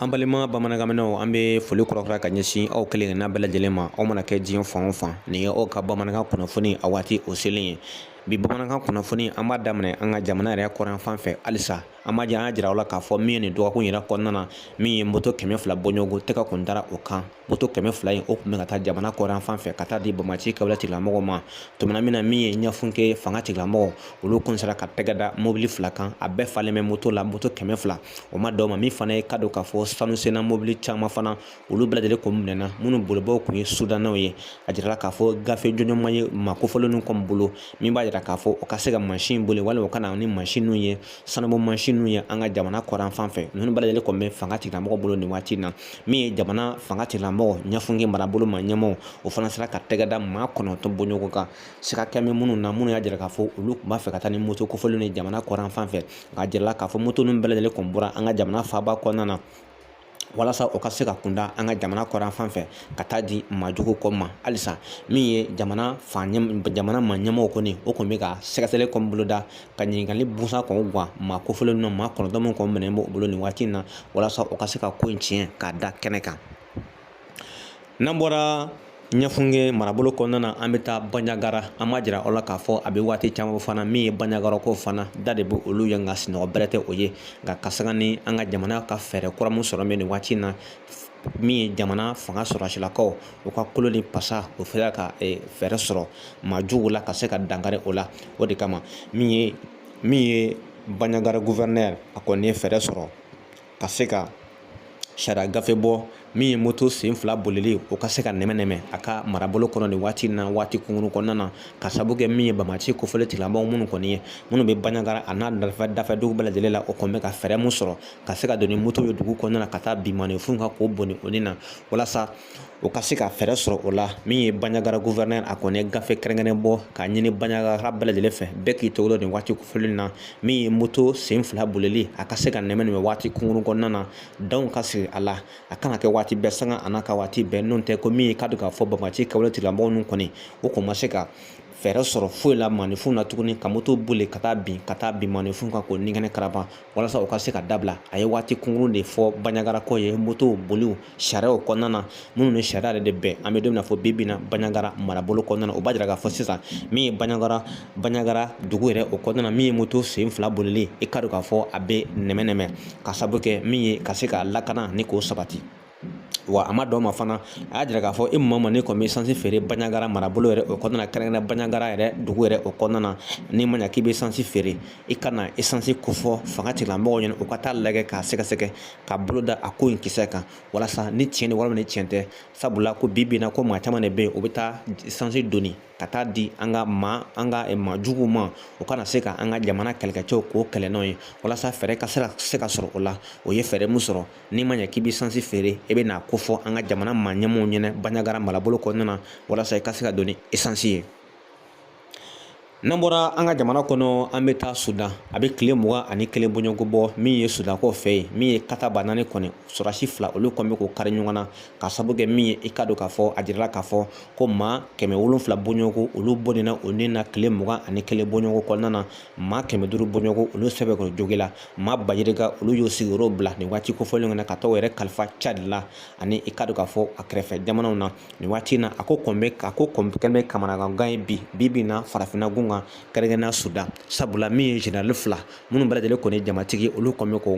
an balima bamanankanmɛnnaw an bɛ foli kura kura ka ɲɛsin aw kelen kelenna bɛɛ lajɛlen ma aw mana kɛ diɲɛ fan o fan nin ye aw ka bamanankan kunnafoni a waati o selen ye bi bamanankan kunnafoni an b'a daminɛ an ka jamana yɛrɛ kɔrɔn fan fɛ halisa an b'a jɛ an y'a jira aw la k'a fɔ min ye nin dɔgɔkun yɛrɛ kɔnɔna na min ye moto kɛmɛ fila bɔɲɔgɔnko tɛgɛ kun dara o kan moto kɛmɛ fila in o tun bɛ ka taa jamana kɔrɔn fan fɛ ka taa di banbaanci kɛwale tigilamɔgɔw ma tumana min na min ye ɲɛfunke fanga tigilamɔgɔ olu kun sera ka tɛgɛ da mobili fila kan a bɛɛ falen bɛ moto la moto kɛmɛ fila o ma dɔw ma min fana ye ka don k'a fɔ sanu senna mobili caman fana olu bɛɛ lajɛlen kun minɛna minnu bolibaaw kun ye sudanaw ye a jirala k'a fɔ gafe jɔnjɔn ma ye maa kofɔlenw kɔni bolo min b'a jira k'a fɔ o ka se ka mansin boli walima o ka na ni mansinw ye sanubɔ mansinw ye an ka jamana kɔrɔn fan fɛ ninnu bɛɛ lajɛlen kɔni bɛ fanga tigilamɔgɔ bolo nin waati in na min ye jamana fanga tigilamɔgɔ ɲɛfunge marabolo maa ɲɛmɔgɔ o fana sera ka tɛgɛ da maa kɔnɔntɔn bɔɲɔgɔn kan sika kɛlen bɛ minnu na minnu y'a jira k'a fɔ olu tun b'a fɛ ka taa ni moto kofɔlenw ye jamana kɔrɔn fan fɛ nk'a jirala k'a fɔ moto ninnu bɛɛ lajɛlen kun bɔra an ka jamana faaba kɔnɔna na walasa o ka se ka kunda an ka jamana kɔrɔn fan fɛ ka taa di maajuguw kɔni ma halisa min ye jamana fan jamana maa ɲɛmɔgɔ kɔni o kɔni bɛ ka sɛgɛsɛgɛli kɔni boloda ka ɲininkali busan kɔni gan maa kofɔlen ninnu na maa kɔnɔntɔn min kɔni minɛnen b'o bolo nin waati in na walasa o ka se ka ko in tiɲɛ k'a da kɛnɛ kan n'an bɔra ɲɛfunge marabolo kɔnɔna na an bɛ taa banjagara an b'a jira aw la k'a fɔ a bɛ waati caman fana min ye banjagarakaw fana da de bɛ olu ye nka sunɔgɔ bɛrɛ tɛ o ye nka ka sanga ni an ka jamana ka fɛɛrɛ kura min sɔrɔ bɛ nin waati in na min ye jamana fanga sɔrɔdasilakaw u ka kolo ni pasa o sera ka fɛɛrɛ sɔrɔ maa juguw la ka se ka dankari o la o de kama min ye min ye banjagara guvɛrɛnɛri a kɔni ye fɛɛrɛ sɔrɔ ka se ka sariya gafe bɔ min ye moto sen fila bolili o ka se ka nɛmɛ nɛmɛ a ka marabolo kɔnɔ nin waati na waati kunkurun kɔnɔna na ka sabu kɛ min ye banbaanci kɛwale tigilamɔgɔ minnu kɔni ye minnu bɛ banjagara a n'a dafɛ dafɛ dugu bɛɛ lajɛlen la o kɔni bɛ ka fɛɛrɛ min sɔrɔ ka se ka don ni moto ye dugu kɔnɔna na ka taa bin maaninfinw kan k'o bɔnɛ o ni na walasa o ka se ka fɛɛrɛ sɔrɔ o la min ye banjagara guvɛrɛnɛri a kɔni ye gafe kɛrɛnkɛrɛn bɔ k'a ɲini banjagara bɛɛ lajɛlen fɛ bɛɛ k'i tɔgɔ nin waati kofɔlen na min ye moto sen fila bolili a ka se ka nɛmɛ nɛmɛ waati kunkurun kɔnɔna na danw ka sigi a la a kana kɛ waati bɛɛ sanga an'a ka waati bɛɛ n'o tɛ ko min ye k'a don k'a fɔ banbaanci kɛwale tigilamɔgɔw ninnu kɔni o kɔni ma se ka fɛɛrɛ sɔrɔ foyi la maaninfinw na tuguni ka moto boli ka taa bin ka taa bin maaninfinw kan k'o ni kɛnɛ karaba walasa u ka se ka dabila a ye waati kunkurun de fɔ banjagarakaw ye moto boliw sariyaw kɔnɔna na minnu ni sariya yɛrɛ de bɛn an bɛ don min na fɔ bi bi in na banjagara marabolo kɔnɔna na o b'a jira k'a fɔ sisan min ye banjagara banjagara dugu yɛrɛ o kɔnɔna na min ye moto sen fila bolili i ka don k'a fɔ a bɛ nɛmɛ nɛmɛ ka sabu kɛ min ye ka se ka lakana ni k'o sabati wa a ma dɔn ma fana a y'a jira k'a fɔ e ma ma ne kɔni bɛ sansi feere bandiagara marabolo yɛrɛ o kɔnɔna kɛrɛnkɛrɛn bandiagara yɛrɛ dugu yɛrɛ o kɔnɔna n'i ma ɲa k'i bɛ sansi feere i ka na esansi kofɔ fanga tigilamɔgɔw ɲɛna u ka taa a lajɛ k'a sɛgɛsɛgɛ ka bolo da a ko in kisɛ kan walasa ni tiɲɛ ni walima ni tiɲɛ tɛ sabula ko bi bi in na ko maa caman de bɛ yen u bɛ taa sansi doni ka taa di an ka maa an ka eh, maa juguw ma o kana se ka an ka jamana kɛlɛkɛcɛw k'u kɛlɛ n'o ye walasa fɛɛrɛ ka se ka sɔrɔ o la u ye fɛɛrɛ min sɔrɔ n'i ma ɲɛ k'i bɛ sansi feere i bɛ n'a ko fɔ an ka jamana maa ɲɛmaaw ɲɛna bandiagara marabolo kɔnɔna na walasa i ka se ka don ni esansi ye n'an bɔra an ka jamana kɔnɔ an bɛ taa sudan a bɛ tile mugan ani kelen bɔɲɔgɔnko bɔ min ye sudan kɔ fɛ yen min ye kata ba naani kɔni sɔrɔdasi fila olu kɔni bɛ k'u kari ɲɔgɔn na ka sababu kɛ min ye i k'a dɔn k'a fɔ a jirala k'a fɔ ko maa kɛmɛ wolonfila bɔɲɔgɔnko olu bɔnɛna u ni na tile mugan ani kelen bɔɲɔgɔnko kɔnɔna na maa kɛmɛ duuru bɔɲɔgɔn olu sɛbɛkɔrɔ jogila maa ba yirika olu y'u sigiyɔrɔ bila nin waati kofɔlen na ka taa u yɛrɛ kalifa cadi la ani i k'a dɔn k'a fɔ a kɛrɛfɛ jamanaw na nin waati in na a ko kɔni bɛ a ko kɛlen bɛ kamanaganko ye bi bi in na farafinna gun kan kɛrɛnkɛrɛnnenya sudan sabula min ye generali fila minnu bɛɛ lajɛlen kɔni jamatigi olu kɔni bɛ k'u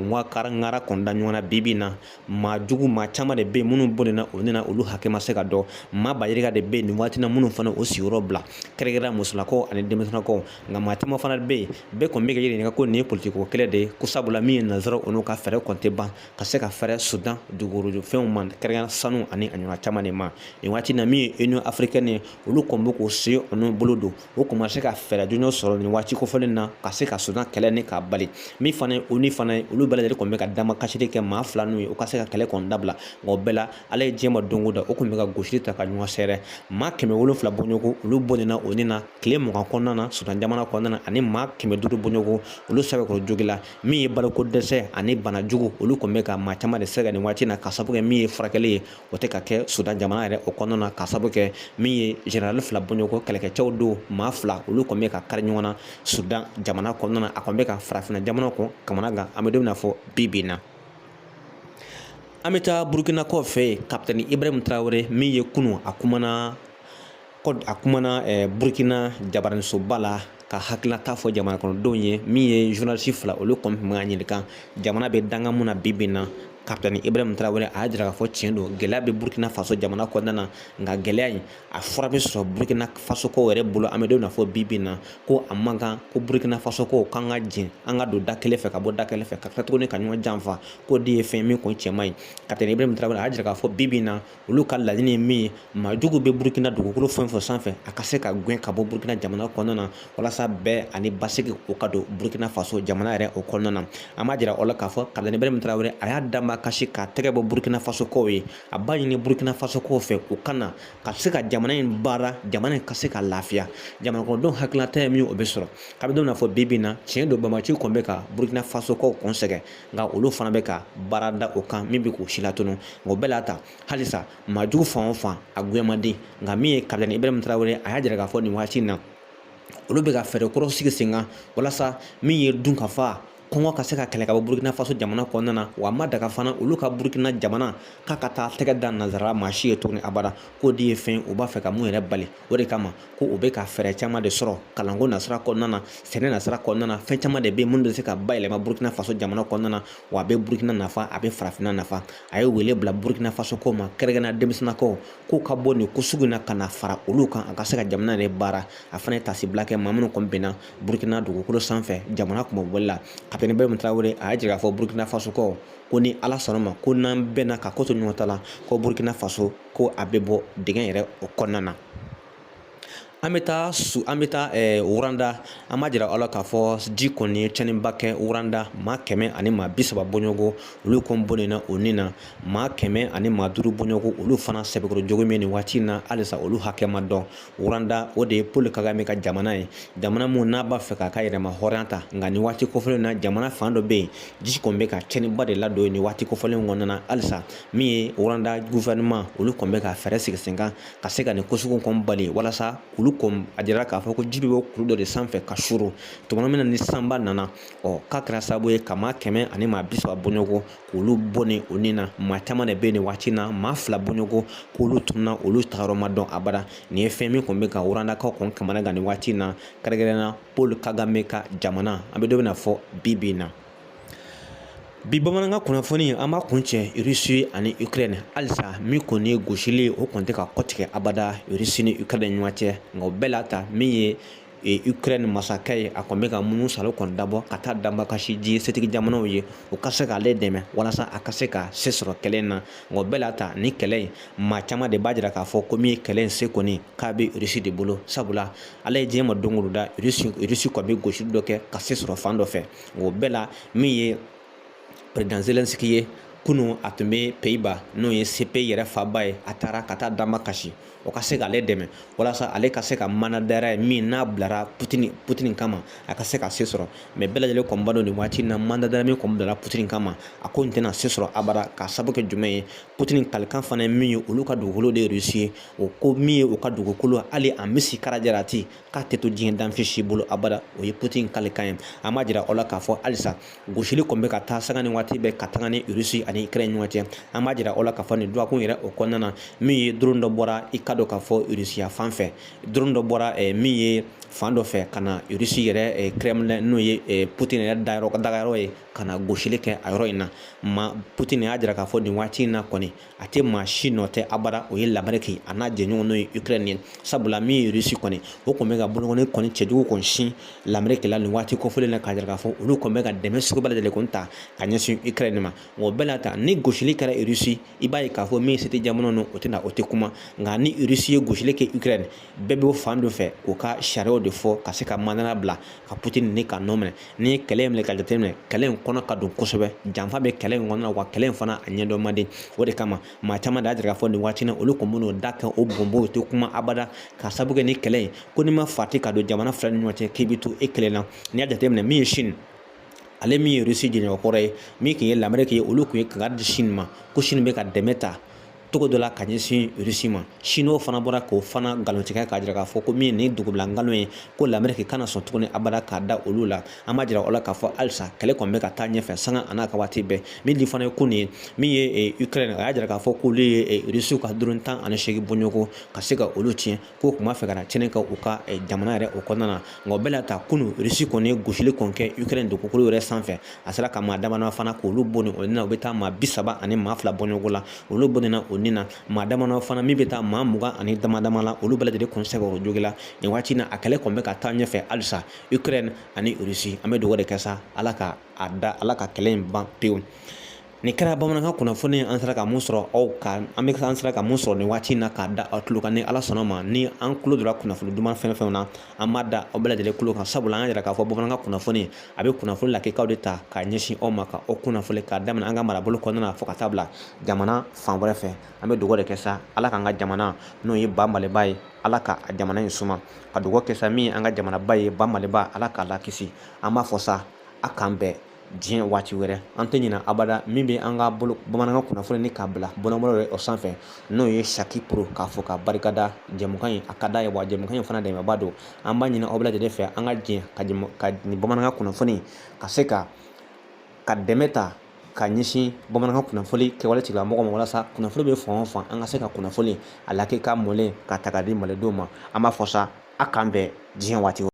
ŋara kɔni da ɲɔgɔn na bi bi in na maa jugu maa caman de bɛ yen minnu bɔnɛna u ni na olu hakɛ ma se ka dɔn maa ba yirika de bɛ yen nin waati na minnu fana u sigiyɔrɔ bila kɛrɛnkɛrɛnna musolakaw ani denmisɛnninakaw nka maa caman fana bɛ yen bɛɛ kɔni bɛ k'a ɲininka ko nin ye politikiko kɛlɛ de ye ko sabula min ye nansaraw olu ka fɛɛrɛ kɔni tɛ ban ka se ka fɛrɛ sudan dugujukɔrɔfɛnw ma kɛrɛnkɛrɛnna sanu ani a ɲɔgɔnna caman de ma nin waati na min ye union africaine ye olu kɔni bɛ k'u sen n'u bolo don u kɔni ma se ka fɛɛrɛ jɔnjɔn sɔrɔ nin waati kofɔlen na ka se ka sudan kɛlɛ nin k'a bali min fana ye onu fana ye olu bɛɛ lajɛlen kɔni bɛ ka damakasili kɛ maa fila ninnu ye u ka se ka kɛlɛ kɔni dabila nka o bɛɛ la ala ye diɲɛ ma don o don u kɔni bɛ ka gosili ta ka ɲɔgɔn sɛrɛ maa kɛmɛ wolonfila bɔɲɔgɔn olu bɔnɛna u ni na tile mugan kɔnɔna na sudan jamana kɔnɔna na ani maa kɛmɛ duuru bɔɲɔgɔn olu sɛbɛkɔrɔ jogila min ye baloko dɛsɛ ani bana jugu olu kɔni bɛ ka maa caman de sɛgɛn nin waati na ka sabu kɛ min ye furakɛli ye o tɛ ka kɛ sudan jamana yɛrɛ o kɔnɔna na ka sabu kɛ min ye general fila bɔɲɔgɔnko kɛlɛkɛcɛw don maa fila olu kɔni bɛ k'u kari ɲɔgɔn na sudan jamana kɔnɔna na a kɔni bɛ ka farafinna jamanaw kɔni kamanagan an bɛ don min na fɔ bi bi in na an bɛ taa burukina kɔ fɛ yen kapitɛni ibrahim tarawele min ye kunu a kumana a kumana eh, burkina jabaraninsoba la k'a hakilinata fɔ jamana kɔnɔdenw ye min ye journaliste fila olu kɔni tun bɛ k'a ɲininka jamana bɛ danga mun na bi bi in na kapitɛni ibrahim tarawele a y'a jira k'a fɔ tiɲɛ don gɛlɛya bɛ burkina faso jamana kɔnɔna na nka gɛlɛya in a fura bɛ sɔrɔ burkina fasokaw yɛrɛ bolo an bɛ don na fɔ bi bi in na ko a man kan ko burkina fasokaw k'an ka jɛn an ka don da kelen fɛ ka bɔ da kelen fɛ ka tila tuguni ka ɲɔgɔn janfa k'o de ye fɛn min kɔni cɛ man ɲi kapitɛni ibrahim tarawele a y'a jira k'a fɔ bi bi in na olu ka laɲini ye min ye maajugu bɛ burukina dugukolo fɛn fɛn sanfɛ a ka se ka gɛn ka bɔ burukina jamana kɔnɔna na walasa bɛn ani basigi o ka don burukina faso jamana yɛrɛ o kɔnɔna na an b'a jira aw la k'a fɔ kapitɛni ibrahim tarawele a y'a damakasi k'a tɛgɛ bɔ burukina fasokaw ye a b'a ɲini burukina fasokaw fɛ u ka na ka se ka jamana in baara jamana in ka se ka lafiya jamanakɔnɔdenw hakilinata ye min o bɛ sɔrɔ kabini don na fɔ bi bi in na tiɲɛ don banbaanciw kɔni bɛ ka burukina fasokaw kɔni sɛgɛn nka olu fana bɛ ka baara da o kan min bɛ k'u si latunu nka o bɛɛ la ta halisa maajugu fan o fan a gɛn man di nka min ye kapitɛni ibrahim tarawele a y'a jira k'a fɔ nin waati in na olu bɛ ka fɛɛrɛ kɔrɔ sigi sen kan walasa min ye dunkafa kɔngɔ ka se ka kɛlɛ ka bɔ burukina faso jamana kɔnɔna na wa a ma daga fana olu ka burukina jamana k'a ka taa tɛgɛ da nanzara maa si ye tuguni abada k'o de ye fɛn u b'a fɛ ka min yɛrɛ bali o de kama ko u bɛ ka fɛɛrɛ caman de sɔrɔ kalanko nasira kɔnɔna na sɛnɛ nasira kɔnɔna na fɛn caman de bɛ yen minnu bɛ se ka bayɛlɛma burukina faso jamana kɔnɔna na wa a bɛ burukina nafa a bɛ farafinna nafa a ye wele bila burukina fasokaw ma kɛrɛnkɛrɛnnenya denmisɛnninnakaw k'u ka bɔ nin ko sugu in na ka na fara olu kan a ka se ka jamana yɛrɛ baara a fana ye tasibila kɛ maa minnu kɔni binna burukina dugukolo sanfɛ jamana kunmabɔli la kapitɛni ibrahim tarawele a y'a jira k'a fɔ burukina fasokaw ko ni ala sɔnna a ma ko n'an bɛnna ka ko to ɲɔgɔn ta la ko burukina faso ko a bɛ bɔ dingɛ yɛrɛ o kɔnɔna na an bɛ taa su an bɛ taa eh, wuranda an b'a jira aw la k'a fɔ ji kɔni ye tiɲɛniba kɛ wuranda maa kɛmɛ ani maa bi saba bɔɲɔgɔnko olu kɔni bɔnɛna u ni na maa kɛmɛ ani maa duuru bɔɲɔgɔnko olu fana sɛbɛkɔrɔ joginna nin waati in na halisa olu hakɛ ma dɔn wuranda o de ye paul kagame ka jamana ye jamana min n'a b'a fɛ k'a ka yɛrɛma hɔrɔnya ta nka nin waati kofɔlen na jamana fan dɔ bɛ yen ji kɔni bɛ ka tiɲɛniba de ladon nin waati kofɔlen kɔnɔna na halisa min ye wuranda gouvernement olu kɔni bɛ ka fɛɛrɛ sigi sen kan ka se ka nin ko sugu kɔni bali walasa olu kɔni a jirala k'a fɔ ko ji bɛ bɔ kulu dɔ de sanfɛ ka suuru tuma min na ni sanba nana ɔ k'a kɛra sababu ye ka maa kɛmɛ ani maa bi saba bɔɲɔgɔn k'olu bɔnɛ u ni na maa caman de bɛ yen nin waati na maa fila bɔɲɔgɔn k'olu tununa olu tagayɔrɔ ma dɔn abada nin ye fɛn min kɔni bɛ ka wurandakaw kɔni kamana gan nin waati na kɛrɛnkɛrɛnnenya paul kagame ka jamana an bɛ don min na fɔ bi bi in na bi bamanankan kunnafoni an b'a kun cɛ russie ani ukraine halisa min kɔni ye gosili o kɔni tɛ ka kɔtigɛ abada russie ni ukraine ɲɔgɔn cɛ nka o bɛɛ la ta min ye e, ukraine masakɛ ye a kɔni bɛ ka munusaalo kɔni dabɔ ka taa damakasi diɲɛ setigi jamanaw ye u ka se k'ale dɛmɛ walasa a ka se ka se sɔrɔ kɛlɛ in na nka o bɛɛ la ta nin kɛlɛ in maa caman de b'a jira k'a fɔ ko min ye kɛlɛ in se kɔni k'a bɛ russie de bolo sabula ala ye diɲɛ ma don o don da russie kɔni bɛ gosili dɔ kɛ ka se sɔrɔ fan dɔ fɛ o bɛɛ la min ye perezidan zelensiki ye kunu a tun bɛ peyiba n'o ye sepe yɛrɛ faba ye a taara ka taa damakasi o ka se k'ale dɛmɛ walasa ale ka se ka mandat d'arrêt in min n'a bilara putini kama a ka se ka se sɔrɔ mɛ bɛɛ lajɛlen kɔni b'a dɔn nin waati na mandat d'arrêt min kɔni bilara putini kama a ko nin tɛna se sɔrɔ abada k'a sabu kɛ jumɛn ye putini kalikan fana ye min ye olu ka dugukolo de ye rusi ye o ko min ye u ka dugukolo hali a misikala jarati k'a tɛ to diɲɛ danfɛn si bolo abada o ye putin kalikan ye an b'a jira aw la k'a fɔ halisa gosili kɔni bɛ ka taa sanga ni waati bɛɛ ka taga ni rusi ani ukraine ɲɔgɔn cɛ an b'a jira aw la k'a fɔ nin dɔgɔkun yɛrɛ o kɔnɔna na min ye drone dɔ bɔra i k'a dɔn k'a fɔ rusiya fan fɛ drone dɔ bɔra eh, min ye fan dɔ fɛ ka na rusi yɛrɛ eh, kremlin n'o ye eh, putin yɛrɛ dagayɔrɔ ye ka na gosili kɛ a yɔrɔ in na ma putin y'a jira k'a fɔ nin waati in na kɔni a tɛ maa si nɔ tɛ abada o ye lameriki a n'a jɛɲɔgɔn n'o ye ukraine ye sabula min ye rusi kɔni o kɔni bɛ ka bolokɔni kɔni cɛjugu kɔni sin lameriki la nin waati kɔfɔlen na k'a jira k'a fɔ olu kɔni bɛ ka dɛmɛ sugu bɛɛ lajɛlen kɔni ta ka ɲɛsin ukraine ma nka o bɛɛ la ta ni gosili kɛra rusi i b'a ye k'a fɔ min ye certains jamana ninnu o tɛna o tɛ kuma nka ni rusi ye gosili kɛ ukraine bɛɛ bɛ bɔ fan dɔ fɛ k'u ka sariyaw de fɔ ka se ka mandat d'arrêt bila ka putin ni ka nɔ minɛ n'i ye kɛlɛ in minɛ ka jateminɛ kɛlɛ in kɔnɔ ka dun kosɛbɛ janfa bɛ kɛlɛ in kɔnɔna wa kɛlɛ in fana a ɲɛdɔn man di o de kama maa caman de y'a jira k'a fɔ nin waati na olu kɔni bɛn'u da kɛ u bonbon u tɛ kuma abada k'a sabu kɛ ni kɛlɛ in ko n'i ma fati ka don jamana fila ni ɲɔgɔn cɛ k'i bɛ to e kelen na n'i y'a jateminɛ min ye sini ale min ye rusi jɛɲɔgɔnkɔrɔ ye min tun ye lameriki ye olu tun ye kangari di sini ma ko sini bɛ ka dɛmɛ ta cogo dɔ la ka ɲɛsin rusi ma sinuwa fana bɔra k'o fana nkalontigiya k'a jira k'a fɔ ko min ye nin dugubila nkalon ye ko lameriki kana sɔn tuguni abada k'a da olu la an b'a jira aw la k'a fɔ halisa kɛlɛ kɔni bɛ ka taa ɲɛfɛ sanga an'a ka waati bɛɛ min de fana ye ko nin ye min ye ukraine a y'a jira k'a fɔ k'olu ye rusiw ka drone tan ani seegin bɔɲɔgɔn ka se ka olu tiɲɛ k'u tun b'a fɛ ka na tiɲɛni kɛ u ka eh, jamana yɛrɛ o kɔnɔna na nka o bɛɛ la ta kunu rusi kɔni ye gosili kɔni kɛ ukraine dugukolo yɛrɛ sanfɛ a sera ka maa damadama fana k'olu bɔnɛ u ni na u bɛ taa maa bi saba ani maa fila bɔɲɔgɔn la olu bɔnɛna u ni na maa damadama fana min bɛ taa maa mugan ani damadama la olu bɛɛ lajɛlen kɔni sɛbɛkɔrɔ jogila nin waati na a kɛlɛ kɔni bɛ ka taa ɲɛfɛ halisa ukraine ani rusi an bɛ dugawu de kɛ sa ala ala ka kɛlɛ in ban pewu Nin kɛra bamanankan kunnafoni an sera ka mun sɔrɔ an sera ka mun sɔrɔ nin waati in na k'a da aw tulo kan ni ala sɔnna ma ni an tulo donna kunnafoni duman fɛn fɛn na an b'a da aw bɛɛ lajɛlen tulo kan sabula an y'a jira k'a fɔ bamanankan kunnafoni a bɛ kunnafoni lakikaw de ta k'a ɲɛsin aw ma ka aw kunnafoni k'a daminɛ an ka marabolo kɔnɔna fo ka taa bila jamana fan wɛrɛ fɛ an bɛ dugawu de kɛ sa ala k'an ka jamana n'o ye ba maliba ye ala ka a jamana in suma ka dugawu kɛ sa min ye an ka jamanaba ye ba maliba ala k'a lakisi an b'a fɔ sa a k'an bɛɛ diɲɛ waati wɛrɛ an tɛ ɲinɛ abada min bɛ an ka bamanankan kunnafoni ni k'a bila bɔlɔlɔ o sanfɛ n'o ye saki pro k'a fɔ ka barikada jɛmukan in a ka d'a ye wa jɛmukan in fana dɛmɛba don an b'a ɲini aw bɛɛ lajɛlen fɛ an ka jɛ ka nin bamanankan kunnafoni ka se ka dɛmɛ ta ka ɲɛsin bamanankan kunnafoni kɛwale tigilamɔgɔw ma walasa kunnafoni bɛ fan o fan an ka se ka kunnafoni a lakika mɔlen ka ta ka di malidenw ma an b'a fɔ sa a k'an bɛn diɲɛ waati